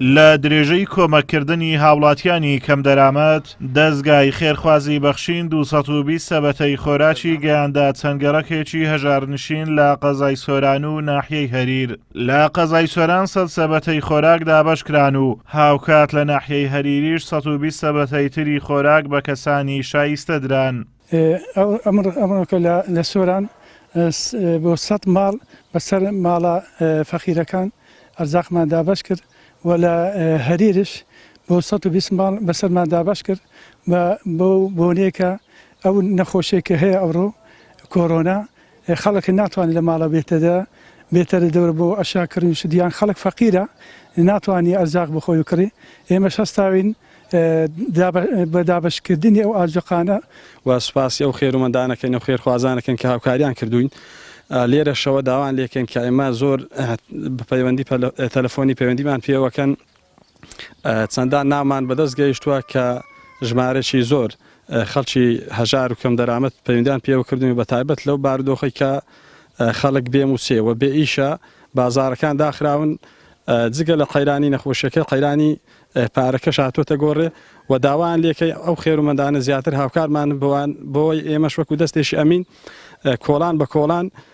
لە درێژەی کۆمەککردنی هاوڵاتیانی کەم دەرامەت، دەزگای خێرخوازی بەخشین دوو سەد و بیست سەبەتەی خۆراکی گەیاندە چەند گەڕەکێکی هەژارنشین لە قەزای سۆران و ناحیەی هەریر. لە قەزای سۆران سەد سەبەتەی خۆراک دابەشکران و هاوکات لە ناحیەی هەریریش سەد و بیست سەبەتەی تری خۆراک بە کەسانی شایستە دران. ئەمڕۆکە لە سۆران بۆ سەد ماڵ بەسەر ماڵە فەقیرەکان ئەرزاقمان دابەش کرد و لە هەریرش بۆ سەد و بیست ماڵ بەسەرمان دابەش کرد بەو بۆنەیەکە ئەو نەخۆشیەکە هەیە ئەوڕۆ کۆرۆنا خەڵک ناتوانێت لە ماڵە بێتەدە بێتەرە دەورە بۆ ئەشیا کڕین و شت یان خەڵک فەقیرە ناتوانێت ئەرزاق بخۆی و کڕی ئێمەش هەستاوین بە دابەشکردنی ئەو ئاجۆقانە و سوپاسی ئەو خێرومەندانەکەین و خێرخوازانەکەین کە هاوکاریان کردووین لێرەشەوە داوان لێکەین کە ئێمە زۆر بە پەیوەندی تەلەفۆنی پەیوەندیمان پێوەکەن. چەندان ناومان بەدەست گەیشتووە کە ژمارەێکی زۆر خەڵکی هەژار و کەمدەرامەت پەیوەندیان پێوە کردوین بە تایبەت لەو بارودۆخی کە خەڵک بێ مووچەیە و بێ ئیشە بازارەکان داخراون جگە لە قەیرانی نەخۆشیەکە قەیرانی پارەکەش هاتوۆتە گۆڕێ و داوایان لێکەی ئەو خێرومەندانە زیاتر هاوکارمان بۆوان بۆی ئێمەش وەکو دەستێکی ئەمین کۆڵان بە کۆڵان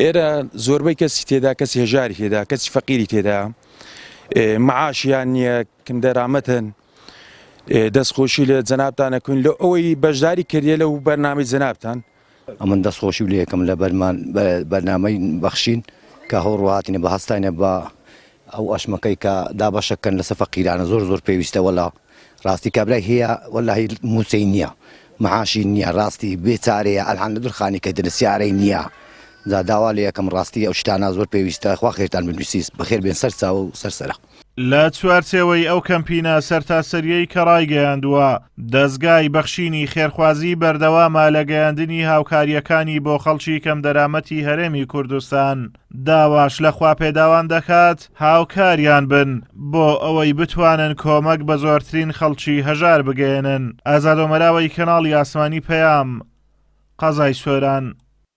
ئێرە زۆربەی کەسی تێدا کەسی هێژاری تێدا کەسی فەقیری تێدا معاشیان نییە کندەرامەتن دەستخۆشی لە جەنابتانە کوین لە ئەوەی بەشداری کردە لە و بەرنامی جەنابتان ئەمن دەستخۆشی لە یەکەم لە بەرمان بەرنامەی بەخشین کە هەوڕهاتینە بە هەستانە بە ئەو ئەشمەکەی کە دابەشە کەن لەسە فەقیرانە زۆر زۆر پێویستە وەلا ڕاستی کابرای هەیە وەلاهی موچەی نیە معاشی نیە ڕاستی بێ چارەیە ئەلحان لە دورخانی کە درە سیارەی نیە جا داوا لێ ئەکەم ڕاستی ئەو شتانە زۆر پێویستە خوا خێرتان بنوسیس بەخێر بێن سەر چاوە و سەر سەرە. لە چوارچێوەی ئەو کەمپینە سەرتاسەریەی کە ڕایگەیاندووە، دەزگای بەخشینی خێرخوازی بەردەوامە لە گەیاندنی هاوکارییەکانی بۆ خەڵکی کەمدەرامەتی هەرێمی کوردستان، داواش لە خواپێداوان دەکات هاوکاریان بن بۆ ئەوەی بتوانن کۆمەک بە زۆرترین خەڵکی هەژار بگەیەنن. ئازاد ئۆمەراوەی کەناڵی ئاسمانی پەیام، قەزای سۆران.